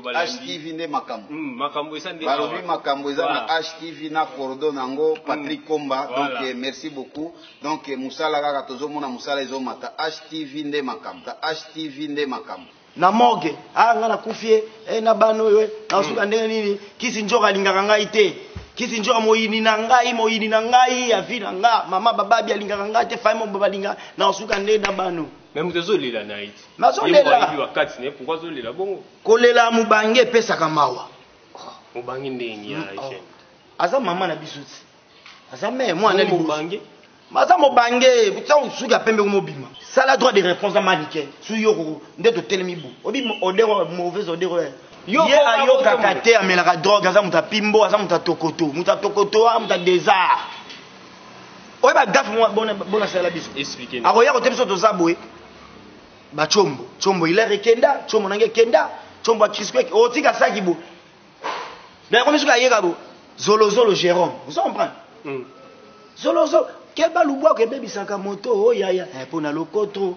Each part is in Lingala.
HTV nde makambo mm, makambo eza nde balobi makambo eza na HTV na cordo na yango mm. Patrick Komba donc eh, merci beaucoup donc eh, musala kaka tozomona musala ezomata HTV nde makambo HTV nde makambo na morgue ah nga nakufi ye eh, na bana oyo eh, nasuka mm. ndenge nini kisi njoka alingaka ngai te kisi njoka moyini na ngai moyini na ngai ya vi na nga mama bababi alingaka ngai te fai mobo balinga nasuka ndenge na bano Mais moto azolela na ye ti. Nazolela. Yebi wa kati ne pourquoi azolela bongo? Kolela mubange epesaka mawa. Mubange ndenge ya mm, oh. jeune. Aza mama na biso ti. Aza mère mwana liboso. Mubange. Maza mobange, kutia usuki ya pembe kumobima. Sala droit de réponse na manike. Su yoko nde totelemi bu. Obi odero mauvaise odero. Yo ye ayokaka te amelaka drogue aza moto apimbo aza moto atokoto moto atokoto a moto adesar oye bagafe bona sala biso akoya kote biso toza boye bacombo combo ilere ekenda combo nange ekenda combo ya crisco otika oh, saki bo me akomi soki ayeka bo zolozolo jérôme ozo comprendre hmm. zolozolo keba lubwako ebebisaka moto oyaya oh, eh, mpo na lokoto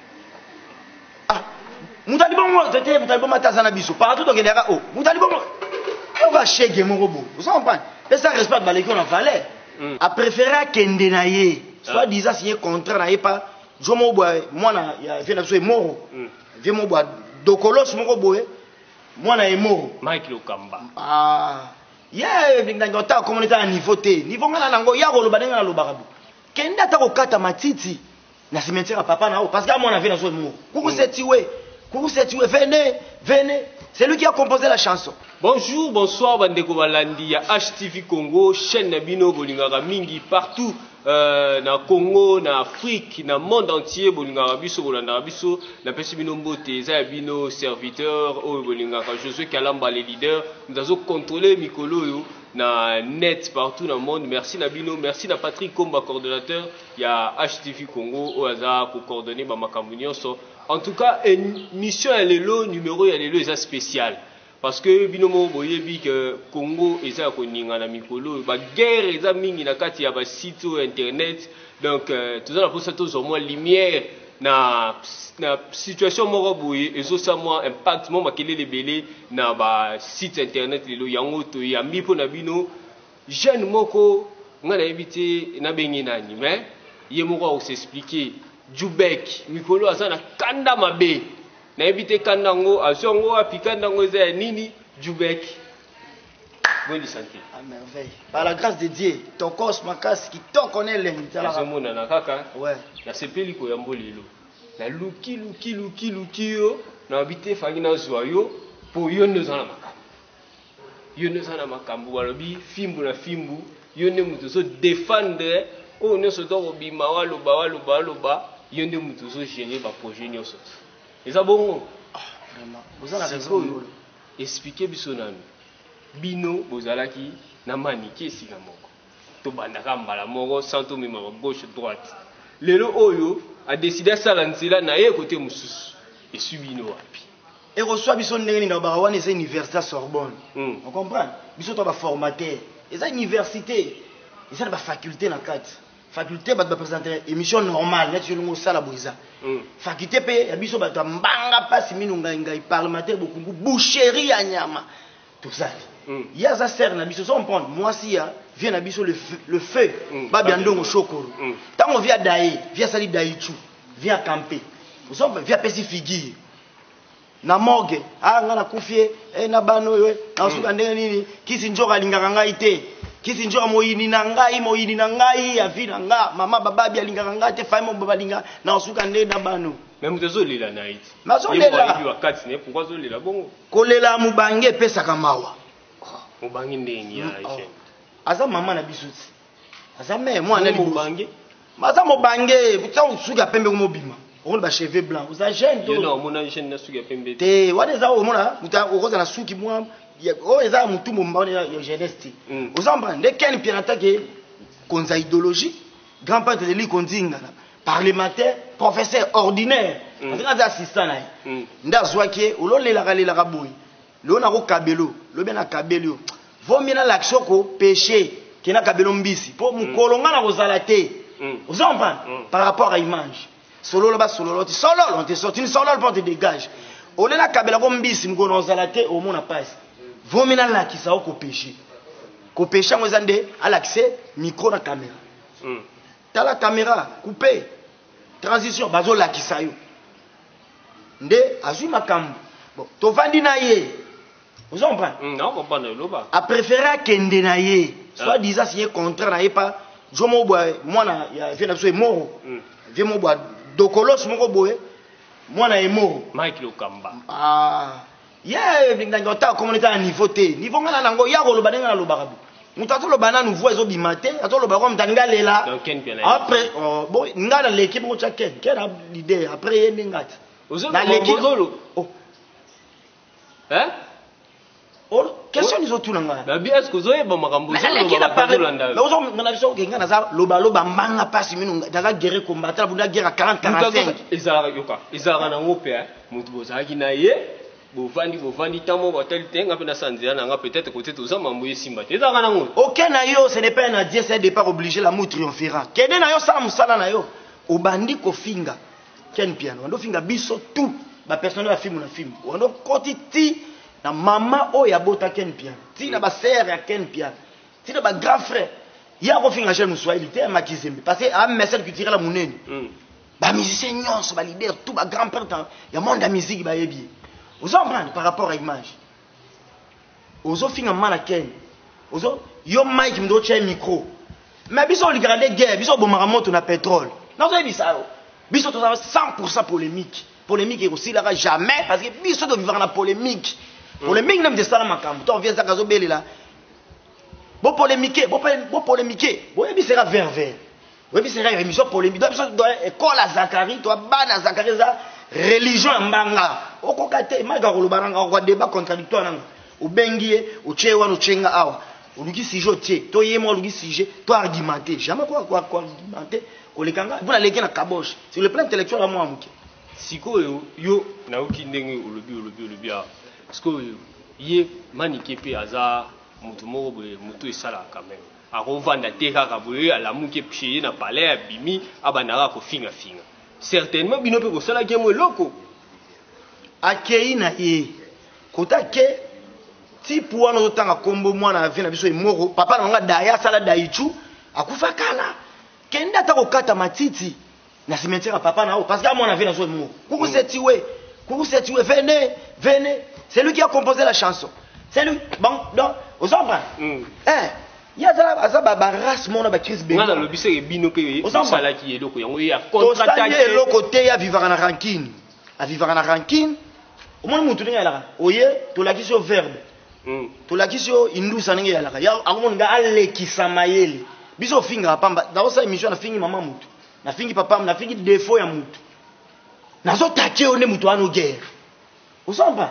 ah mutali bongo tete mutali bongo ataza na biso partout tokende yaka o oh, mutali bongo oka shege moko boye oza comprendre pesa respect baleki yo na valeur mm. apréféré akende na ye soit ah. disant signé contrat na ye pa jo moko boye mwana ya vie na biso emoro mm. vie moko boye dokolos moko boye mwana emoro mike lokamba ah. ye ndenge ota akomona eza na niveau te niveau ngai na nango ya koloba ndenge nalobaka bo kende ata kokata matiti Na cimetière papa na yo parce que à mon avis na zo mo. Coucou c'est Tiwe. Coucou c'est Tiwe. Venez, venez. C'est lui qui a composé la chanson. Bonjour, bonsoir bandeko balandi ya HTV Congo, chaîne na bino bolingaka mingi partout euh, na Congo, na Afrique, na monde entier bolingaka biso bolandaka biso. Napesi bino mbote eza ya bino serviteur oyo bolingaka Josué Kalamba le leader. Mtazo contrôler mikolo oyo na net partout na monde. Merci na bino, merci na Patrick Komba coordonnateur ya HTV Congo oyo aza ko coordonner ba makambo nyonso. En tout cas, émission ya lelo, numero ya lelo eza spécial. Parce que bino moko boyebi que Congo eza ya koninga na mikolo oyo. Ba guerre eza mingi na kati ya ba sites oyo internet. Donc euh, toza na posa tozwa mwa lumière na, na situation moko boye ezosa mwa impact mwa makelele ebele na ba sites internet lelo yango toyambi mpo na bino Jeune moko nga nayebi te nabengi nani mais ye moko ako s'expliquer Djoubeck mikolo aza na kanda mabe nayebi te kanda yango azwi yango wapi kanda yango eza ya nini Djoubeck Bonne santé. À merveille. Par la grâce de Dieu, tokos makasi kitoko na elengi tala. Nazomona na kaka. Ouais. Nasepeli koyambo lelo. Na luki luki luki luki yo na bite fangi na zwa yo po yo nde oza na makambo. Yo nde oza na makambo balobi fimbu na fimbu, yo nde moto ozo defendre oyo nyonso to kobima waloba waloba waloba, yo nde moto ozo gérer ba projet nyonso tu. Eza bongo? Ah, vraiment. Oza na raison ngolo. Expliquer biso nanu. Bino bozalaki na manike esika moko. Tobanda kaka mbala moko sans tomemaka gauche droite. Lelo oyo a decide asala nzela na ye kote mosusu. Eswi bino wapi? Ekoswa biso ndenge nini nalobaka wana eza universite ya Sorbonne. Hmm. O comprendre? Biso to ba formateur. Eza universite. Eza na ba faculte na kati. Faculte bato ba presenter emission normale neti yo ndenge osala boye eza. Hmm. Faculte pe ya biso bato ya mbanga pasi mino ngai ngai parlementaire bokungu boucherie ya nyama. tozali ye aza sœur na biso ozo comprendre mwasi ya vie na biso le, le feu mm. babia ndongo shokoro mm. ntango vie adaye vie asali daichu vie akampe ozo comprendre vie apesi figure na morgue ah nga nakufi ye eh, na bana oyo eh, nasuka mm. ndenge nini kisi njoka alingaka ngai te kisi njoka moyini na ngai moyini na ngai ya vie na nga mama bababi alingaka ngai te fai mobo balinga nasuka ndenge na bano me moto ezolela na ye te nazolela Kolela ya mubange epesaka mawa. Mubange ndenge ya mm, oh. Aza mama na biso ti. Aza mère mwana liboso. Mubange. Maza mubange, kutia usuki ya pembe kumobima. omoni ba cheveux blanc oza jeune to non mona jeune na suki ya pembe te wana eza omona uta okoza na suki mwa oyo eza ya motu momba wana ya jeunesse te oza mba nde ken pianatake konza idéologie grand peintre de liko nzingana parlementaire professeur ordinaire mm. azalaki aza assistant na ye mm. nde azwaki ye ololelaka lelaka boye lelo nakokabelo lobi nakabeli yo vomie nalakisa oko peche ke nakabelo mbisi mpo mokolo mm. ngai nakozala te oza comprendre par rapport à image Sololo ba sololo ti sololo on te sort une sololo pour te dégage. Olela kabela ko mbisi mkono ozala te omona pasi. Vomi na lakisa oko peche. Ko peche yango eza nde alakise micro na camera. Mm. Tala camera coupe transition bazo lakisa yo. Nde azui makambo. Bon, tovandi na ye. Vous comprenez mm, Non, comprends, loba. A préféré akende na ye. Ah. Soit disant signé contrat na ye pa Jomo mobwa mwana ya vieux na biso Emoro. Mm. Vieux mobwa dokolos moko boye mwana Emoro. Mike Lokamba. Ah. Ye ndenge ota komona ta niveau te. Niveau ngana nango ya koloba ndenge na lobaka bo. Mutu atoloba nanu voix ezobima te, atoloba kwa mutani ngalela. Après oh, bon ngana l'équipe ko tcha ken, ken a l'idée après ye ndengati. Ozoloba bozolo. Oh. Hein? Or, question nizo tuna nga. Na bien est-ce que ozo yeba makambo ozo loba ba ozo landa. Na ozo na biso ke nga naza loba loba mbanga pasi minu naza guerre combattant bunda guerre 40 45. Ezala yoka, ezala na ngope hein. Mutu bozalaki na ye bovandi bovandi ntango moko atali te nga mpe nasala nzela na nga peut-être kote toza mambo esimba te ezalaka nango oke na yo ce n'est pas un adieu c'est un départ obligé l'amour triomphera kende na yo sala mosala na yo obandi kofinga Ken Mpiana wando finga biso tout ba personnel ya film na film wando koti ti na mama oyo abota Ken Mpiana ti na ba sœur ya Ken Mpiana ti na ba grand frère ye akofinga Jean Muswahili te makizembe parce que a message culturel ya munene mm. ba musiciens nyonso ba leader tout ba grand père ya monde ya musique bayebi ozo comprendre par rapport à image ozo finga mama na ken ozo yo mike mdo otia micro mais biso olikaka nde guerre biso obomaka moto na petrole nazoyebisa yo biso toza 100% polemique polemique ekosilaka jamais parce que biso tovivaka na polemique mm. polemique nde moto esala makambo to vie ezaka azobelela bopolemike bopolemike boyebisaka ververe oyebisa kaka emission polemi to biso ekola zakari to bana zakari eza religion ya mbanga okoka te maka koloba nanga okwa débat contradictoire nanga obengi ye otye ye wana otye nga awa oluki sujet otye to ye mwa oluki sujet to argumente jamais koargumente koleka nga mpo naleki na kaboche sur le plan intellectuel amwa moke sikoyo yo nayoki ndenge olobi olobi olobi awa sikoyo ye manike mpe aza moto moko boye moto esalaka quand même Akovanda te kaka boye alamuki epuce ye na palais abimi abanda kaka kofinga finga. Certainement bino pe bosalaki ye mwa eloko. Akeyi na ye kota ke type wana ozotanga kombo mwana ya vie na biso emoro papa na nga daya asala daichu akufa kala kende ata kokata matiti na cimetière ya papa na yo parce que amwana vie nazo emongo kuku mm. setiwe kuku setiwe venez venez c'est lui qui a composé la chanson c'est lui bon donc ozo comprendre mm. eh ye aza barace mona bacrise benga nalobi seke bino mpe osalaki eloko yango ye acontrataye eloko te ye avivaka na rankine avivaka na rankine omoni motu ndenge yalaka oye tolakisi yo verbe hmm. tolakisi yo indusa ndenge yalaka akomoni nga alekisa mayele biso ofingaka pamba nakosala émission na fingi mama motu nafingi papa nafingi defo ya mutu nazotache yo nde mutu wana ogere osompa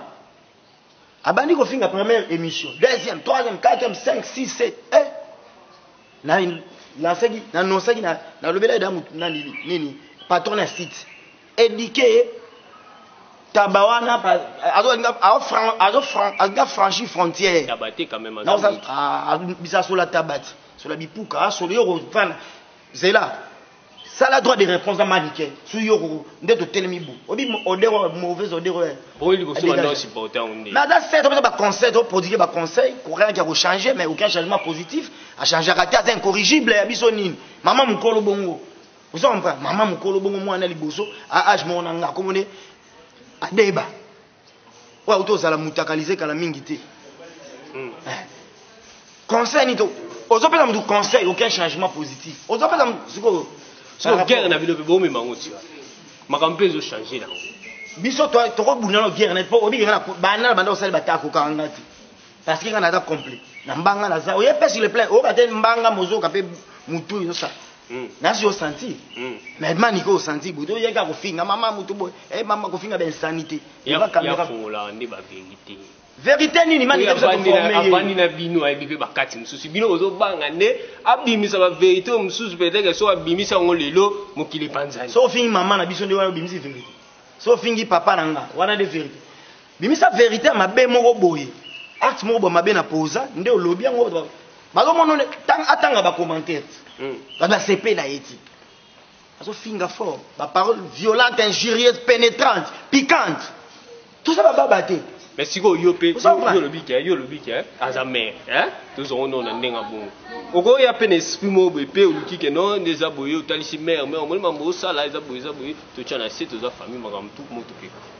abandi kofinga première émission deuxième troisième quatrième cinq six sept eh na lansaki na nonsaki na nalobela eda mutu na nini nini patron ya site éduqué ye taba wana azolinga franchi frontière bisa sola tabati sola bipuka asolo yo kovanda Zela. Sala droit de réponse na manike. Su yoko nde to telemi bu. Obi odero mauvaise odero. Oyi liko sima ndo supporter on nde. Na da set obi ba conseil to produire ba conseil courant ya ko changer mais aucun changement positif. A changer kati aza incorrigible ya biso nini. Maman mukolo bongo. Ozo comprendre? Maman mukolo bongo mwana liboso a age mona nga komone. Adeba. oyo auti ozala mutakalize kala mingi te hmm. eh. conseil nini to ozopesa motu conseil aucun changement positif ozopesa sikoyo sikoyo guerre na bino mpe bomema yango tia makambo mpe ezochange nango biso tokobunda na guerre na mpo obikaka na banda na banda osali batako kanga te Parce que nga naza complet. Na mbanga naza. Oye pe sur le plein. Oka te mbanga mozoka pe mutu yo sa. Mm. Nasi yo senti. Mm. Mais mani ko senti bodo oye ka kofinga mama mutu boy. Eh mama kofinga ben sanité. Ya ba kamera. Ya fongola ndi ba vérité. Vérité nini mani kabisa ko former. Avandi na bino ayebi pe bakati mususu. Bino ozo banga nde abimisa ba vérité mususu peut-être so abimisa ngo lelo mokili panzani. So fingi mama na biso nde wana obimisi vérité. So fingi papa na nga wana nde vérité. Bimisa verite ya mabe moko boye. Acte moko boye mabe na poza nde olobi yango bazo mono atanga ba commentaires. Hmm. Ba ba CP na yeti. Azo finga fort, ba paroles violentes, injurieuses, pénétrantes, piquantes. Tout ça ba baba te. Mais si vous yo pe yo lobi ke yo lobi ke aza mère hein tous on on ndenga bon. Oko ya pe esprit mo be pe oluki ke non neza boyo talisi mère mais omoni mambo sala eza boyo eza boyo to tchana se to za famille makambo tout moto pe.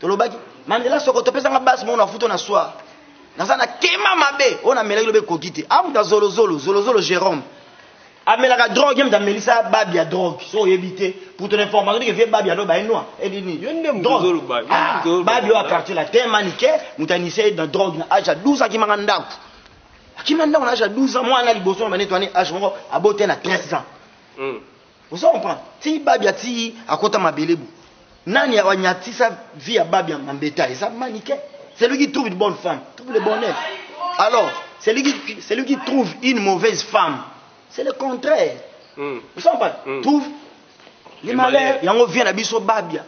tolobaki mandela soko topesa nga base moko na futo na soir naza na kema mabe oyo namelaki lobe ekoki te amuta zolozolo zolozolo jérôme amelaka drogue ye moto amelisa babi ya drogue so oyebi te pour ton information ndike vie babi aloba ye noa edini babi oyo apartir la te manike moto anise ye na drogue na age ya 12 akimaka ndako akima ndako na age ya 12 ans mwana liboso na banetwani age moko abote na 13 ans hmm. ozo comprendre ti babia ti akota mabele bo nani awanyatisa vie ya babia mambeta eza manike celui qui trouve une bonne femme trouve le bonheur alors celui qui, celui qui trouve une mauvaise femme c'est le contraire mm. ozo comprendre mm. trouve le malheur yango vie na biso babia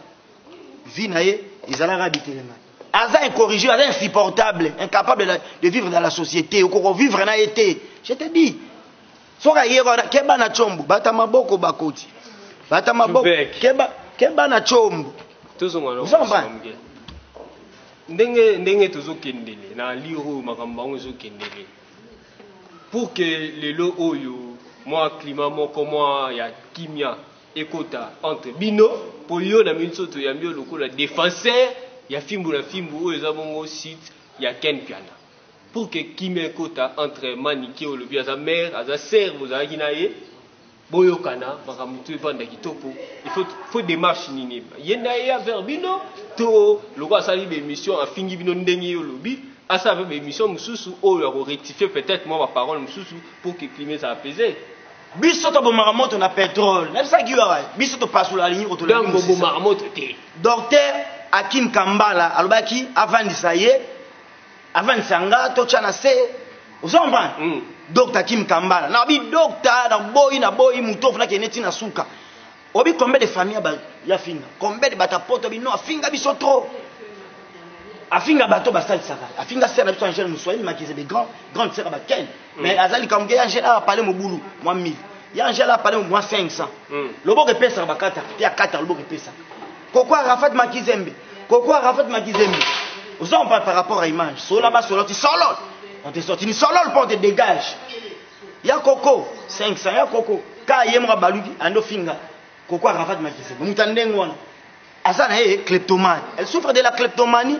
vie na ye ezalaka bitelema aza incorrigé aza insupportable incapable de vivre dans la société okoko vivre na ye te je te dis soki aye wana keba na combo bata maboko bakoti bata maboko keba keba na combo tozonga na ndenge ndenge tozokendele na lire oyo makambo bango ezokendele pour que lelo oyo mwa klima moko mwa ya kimia ekota entre bino mpo yo na minso toyambi yo lokola defenseur ya fimbu na fimbu oyo eza bongo site ya ken piana Pour que kimia ekota entre manike olobi aza mère aza sœur bozalaki na ye boyokana makambo to evanda kitoko il faut faut démarche nini ye nda ye vers bino to lokola asali ba émission afingi bino ndenge yo olobi asala mpe ba émission mosusu oyo ako rectifier peut-être mwa ba parole mosusu pour que climat eza apaiser biso tobomaka moto na petrole nabisaki yo awa biso topasola alingi kotolaki donc bobomaka moto te docteur akim kambala alobaki avandisa ye avandisa nga totya na se ozo comprendre mm. docteur kim kambala na bi docteur na boyi na boyi moto ofuna kende ti na suka obi combien de famille ba ya finga combien de bata poto bi non afinga biso trop afinga bato basalisaka afinga sera na biso angel muswahili makizebe grand grande sera baken mm. mais aza likambo ke ya angel awa pale mobulu mwa 1000 ya angel awa pale mwa 500 mm. loboko epesaka bakata mpe akata loboko epesaka koko arafat makizembe koko arafat makizembe oza mpa par rapport à image sola basoloti solol on te sorti ni solol mpo on te dégage ya koko 500 ya koko ka ye moko abaluki ando finga koko arafat makizembe moto ya ndenge wana aza na ye kleptomane elle souffre de la kleptomanie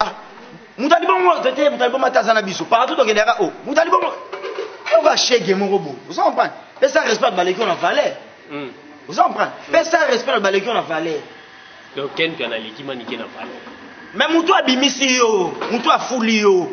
ah mutali bongo tete mutali bongo ata aza na biso partout tokende yaka o oh, mutali bongo oka shege moko boye oza comprendre pesa respect na baleki oyo na valeur hmm. oza comprendre hmm. pesa respect na baleki oyo na valeur donc ken mpe analeki manike na valeur mais mutu abimisi yo mutu afuli yo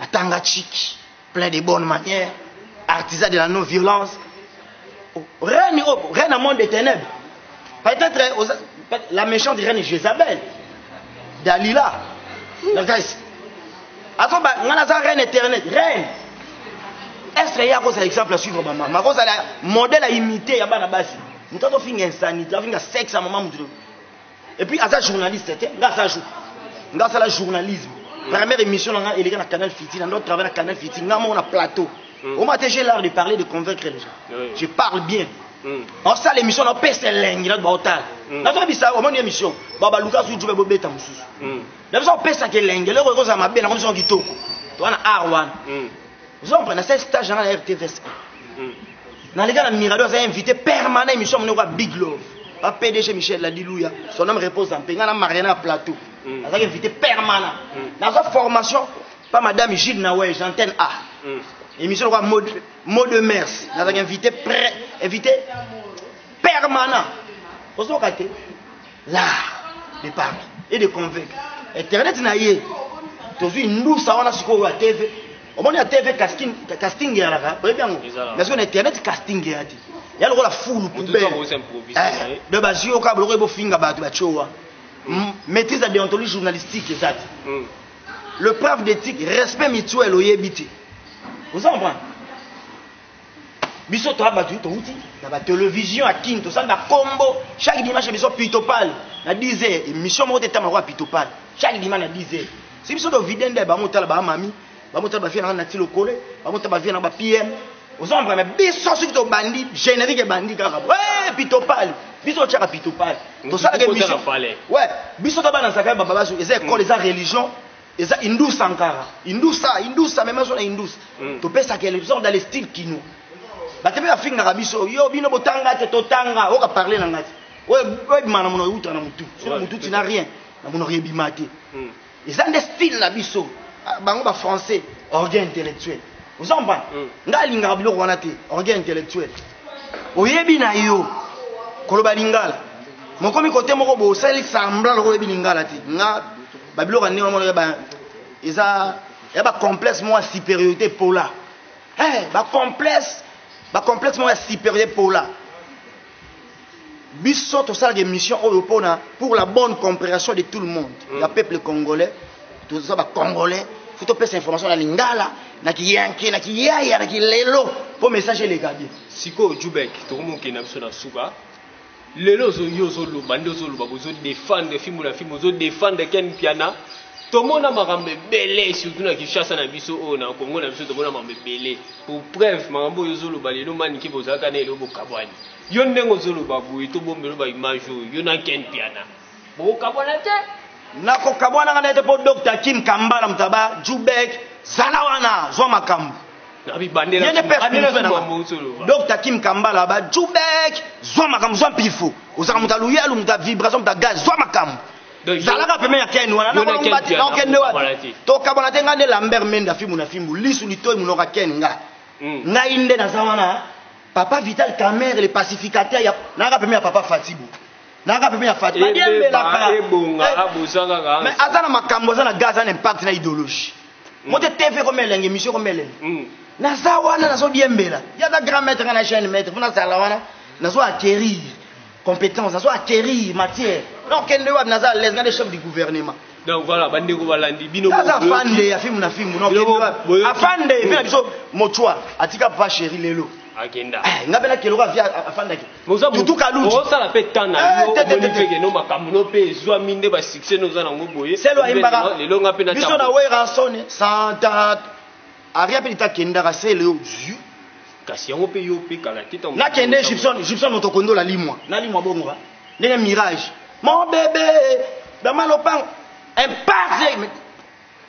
atanga chiki plein de bonne manière artisan de la non violence oh, reine oh, reine monde des ténèbres peut-être eh, la méchante reine Jézabel Dalila nakasi azo ba nga naza reine éternelle reine est-ce que ye akozala exemple ya suivre bamama akozala modèle ya imité ya bana basi moto azofinga insanité afinga sexe ya mama moto et puis aza journaliste te nga aza jour nga asala journalisme première émission na nga eleka na canal fiti na ndo travail na canal fiti nga moko na plateau mm. oma te j'ai l'art de parler de convaincre les gens oui. je parle bien osala émission na pesa elengi na baotala nazobisa omoni émission babaluka asu jube bobeta mosusu na biso opesaka elengi eloko ekozala mabe na komisa kitoko to wana ar wana oza comprendre nasali stage nanga na rtvs naleka na mirado aza invité permanent émission monoko ya big love ba pdg michel ladiluya son homme repose en paix nga na mariana ya plateau mm. azalaki invité permanent mm. nazwa formation pa madame gilles nawege antenne a mm. émission lokola mot de mers nazalaki invité pré invité permanent ozoka te l'art de parler et de convaincre internet na ye tozwi ndusa wana sikoyo ya tv omoni ya tv casting casting eyalaka oyebi yango mais sikoyo na internet casting eya te ya lokola fulu poubelle de bazwi yoka biloko ye bofinga bato batiowa maîtrise ya déontologie journalistique eza te hmm. le preuve d'éthique respect mutuel oyebi te oza comprendre biso toa bato touti na batelevision ya kin tosali na kombo chaque dimanche biso pitopal na 10 heures émission moko te etama kwa pitopal chaque dimanche na 10 heures si biso tovide nde bango otala bamami bango otala bafie nanga nati lokole bango otala bafie nanga bapm oza comprendre biso soki tobandi générique ebandi kaka eh, pitopal biso otyaka pitopal tosalaka émission biso tobanazaka bababasu eza ekole eza religion Eza Indus Sankara. Indusa, Indusa, meme zo na Indus. Mm. To pesa quel genre dans le style kino. Ba tebe afinga ka biso. Yo bino botanga te to tanga. Oka parler na ngati. Oye oye mana mono uta na mutu. Sur mutu tu n'as rien. Na mono rebi mate. Mm. Eza nde style na biso. Ah, bango ba français, orgueil intellectuel. Vous en parlez. Mm. Nga lingaka biloko wana te, orgueil intellectuel. Oyebi na yo koloba lingala. Mokomi kote moko bosali sambla lokola oyebi lingala te. Nga ba biloko ya ndenge wana omonaka ba eza ya ba complexe moko ya supériorité epola hey, ba complexe ba complexe moko ya supériorité epola biso tosalaka émission oyo mpona pour la bonne compréhension de tout le monde mm. ya peuple congolais toza ba congolais fo topesa information na lingala na kiyanke na kiyaya na kilelo mpo message eleka bien sikoyo jubek tokomokende na biso na suka Lelo ozo yo ozo loba nde ozo loba bozo defendre fimbu na fimbu ozo defendre Ken Mpiana tomona makambo ebele surtout na Kinshasa na biso oyo na Congo na biso tomona makambo ebele pour preuve makambo oyo ozo loba lelo mani ke bozalaka na eloko bokabwani yo ndenge ozo loba boye to bombelo ba image oyo yo na Ken Mpiana bokokabwana te nakokabwana nga na ye te mpo docteur kim kambala moto aba jubek zala wana zwa makambo docteur kim kambala aba jubek zwa makambo zwa mpifo ozalaka moto aluyalu moto avibration moto agaz zwa makambo zalaka peme ya ken wana nakokende wapi tokabwana te ngai nde lambert menda fimbu na fimbu lisu litoi monoka ken nga hmm. ngai nde naza wana papa vital kamer le pacificateur nayaka peme ya papa fatibu naka pembeni ya fati badiembelaka mais aza na makambo aza na ga aza na impact na idéologie hmm. mote tv ekomelenge émission ekomelenge hmm. naza wana nazodiembela ye aza grand maître nga na chaine maître mpo nazala wana nazo acquérir compétence nazo acquérir matière donc kende wapi naza à l'aise nga de chef du gouvernement donc voilà bandeko balandi bino aza afande ya fimu na fimu afande mpe na biso mochwa atika papa chéri lelo akenda eh, nga mpe nakeloka vie afandaki Boza Tutu Kaluji. Osala pe temps na Eh, yo, te, te, omoni te, te. pe que no makambo no pe ezwami nde ba succès no oza na ngo boye. selo Omoni ayimbaka lelo- Lelo nga pe na biso na tambola. werasone santa aria mpe lita kendaka selo yo zui Kasi yango pe yo pe kala te tango- nakende gibson gibson moto kondola limwa nalimwa bongo ba ndenge mirage mon bebe dama lopango impase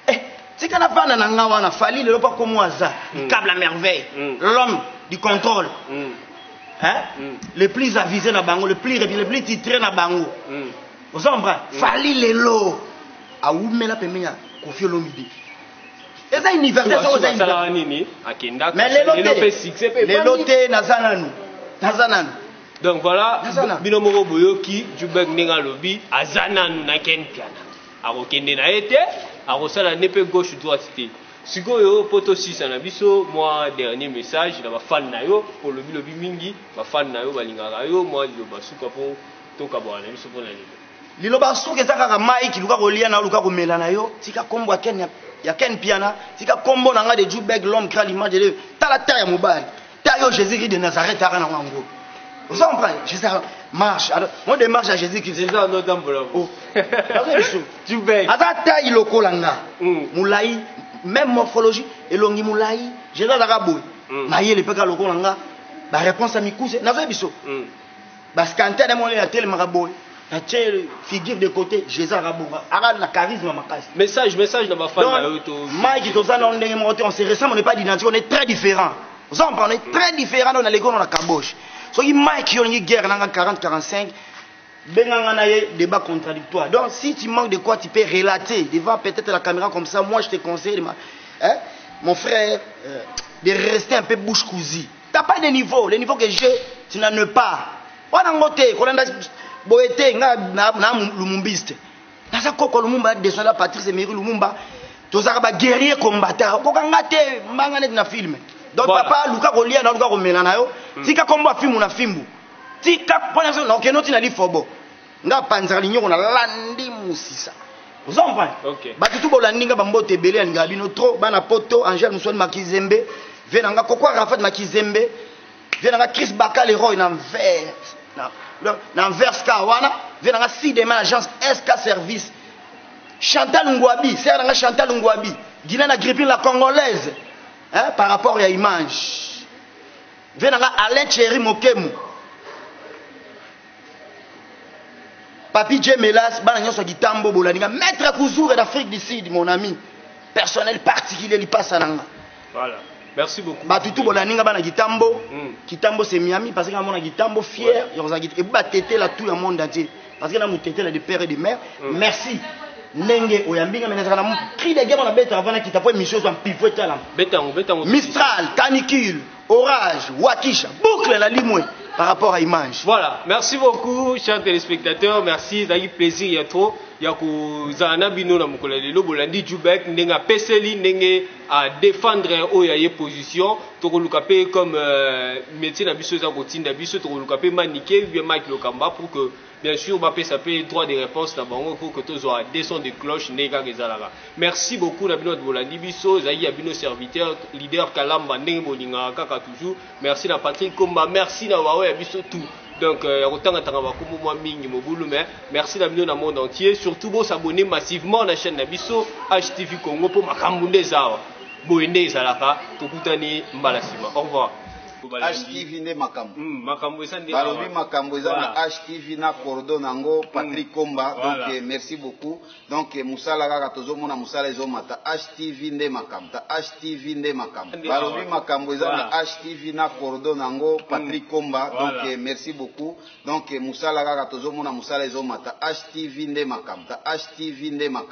Eh, tika na vanda na nga wana fali lelo pa komo aza mm. cable à merveille mm. l'homme du contrôle mm. hein? mm. le plus avisé na bango le plus le plus titré na bango mm. oza comprendre mm. fali lelo awumela pembeni ya kofi olomide eza universel soko eza universel nini akendaka mais lelo te lelo te naza nanu naza nanu donc voilà bino moko boyoki jubek ndenge alobi aza nanu na ken piana Akokende na ye te, akosala nde pe gauche droite te. Sikoyo po to sisa na biso mwa dernier message na ba fan na yo po olobi lobi mingi ba fan na yo balingaka yo mwa liloba suka po to kabuaka na biso pona lelo. Liloba suka eza kaka Mike luka kolia na yo luka komela na yo tika kombo ya Ken ya Ken Mpiana tika kombo na nga de Djou Bègue l'homme grand l'image de Dieu tala teint ya mobali ta yo jésus christ de nazareth aka nango yango oza comprendre jésus marche alors moi de marche ya jésus christ eza wana otambola oh. aza tai lokola nga hmm. molai même morphologie elongi molai jésus azaka boye hmm. mayele mpe ka lokola nga baréponse ya mikuse nazoyebi so hmm. Ba scantane ya mwana atelemaka boye. Atie figure de côté, Jésus Rabonga. Ara na charisme makasi. Message, message na ba fans na yo to. Mike toza na ndenge moko te, on se ressemble, on n'est pas d'identité, on est très différent. Vous en parlez très différent dans les gonds la caboche. Soki Mike yo lingi guerre nanga 40 45 benga nga na ye débat contradictoire. Donc si tu manques de quoi tu peux relater devant peut-être la caméra comme ça, moi je te conseille ma, hein, mon frère euh, de rester un peu bouche cousue. T'as pas de niveau, le niveau que j'ai, tu n'en es pas. Wana ngo te, kolanda boye te, nga na, na lumumbiste. Naza koko Lumumba, descendant de Patrice Emery Lumumba. Tozaka ba guerrier combattant. Koka nga te, mbanga neti na film. Donc voilà. papa, luka kolia na luka komela na yo. Mm. Tika kombo afimbu na fimbu. Tika pona zo na okeno tina lifobo. Nga panzaka linyoko na landi musisa. Ozo comprendre? Okay. Batu tu bolandi nga bambote ebele ya lingala bino trop bana poto Angel Musoni Makizembe vie na nga kokwa Rafat Makizembe vie na nga Chris Baka Leroy na vert na na vert ska wana vie na nga Sidema agence SK service Chantal Ngwabi sera na nga Chantal Ngwabi Gina na gripping la congolaise hein par rapport ya image vie na nga Alain Thierry Mokemu Papi J. Melas, bana nyoso kitambo bolani nga. Maître Kuzura d'Afrique du Sud, mon ami. Personnel particulier lipasa nanga. Voilà. Merci beaucoup. Batu tout bolani nga bana kitambo. Mm. Kitambo c'est Miami parce que na mona kitambo fier, ouais. yoza kit et ba tete la tout le monde entier. Parce que na mutete la de père et de mère. Mm. Merci. ndenge oyambi nga menezaka na cri de guerre na beta avana kita po émission ezwa mpivo etala mistral canicule Orage, Wakisha, boucle la limwe par rapport à image. Voilà, merci beaucoup chers téléspectateurs, merci, ezalaki plaisir ya trop ya kozala na bino na mokolo ya lelo bolandi Jubek ndenge apeseli ndenge a défendre oyo ya ye position tokoluka mpe comme euh, métier na biso eza kotinda biso tokoluka mpe manike bien Mike Lokamba pour que Bien sur ba pesa pe droit de reponse na bango pour que tozua de son de cloche nde kaka ezalaka. Merci beaucoup na bino batu bolandi biso ezalaki ya bino serviteur leader kalamba ndenge bolingaka kaka toujours merci na Patrick komba merci na baoyo ya biso tout donc euh, ya kotanga tanga ba kombo mwa mingi mobulu mais merci na bino na monde entier surtout bo s'abonner massivement na chaîne na biso HTV Congo po makambo nde ezawa boye nde ezalaka tokutani mbala sima au revoir HTV nde makambo. Mm, makambo eza nde balobi makambo eza na HTV na cordon nango mm. Patrick Komba. Voilà. Donc eh, merci beaucoup. Donc eh, musala kaka tozomona musala ezomata HTV nde makambo. Ta HTV nde makambo. Balobi makambo eza na HTV na cordon nango mm. Patrick Komba. Voilà. Donc eh, merci beaucoup. Donc musala kaka tozomona musala ezomata HTV nde makambo. Ta HTV nde makambo.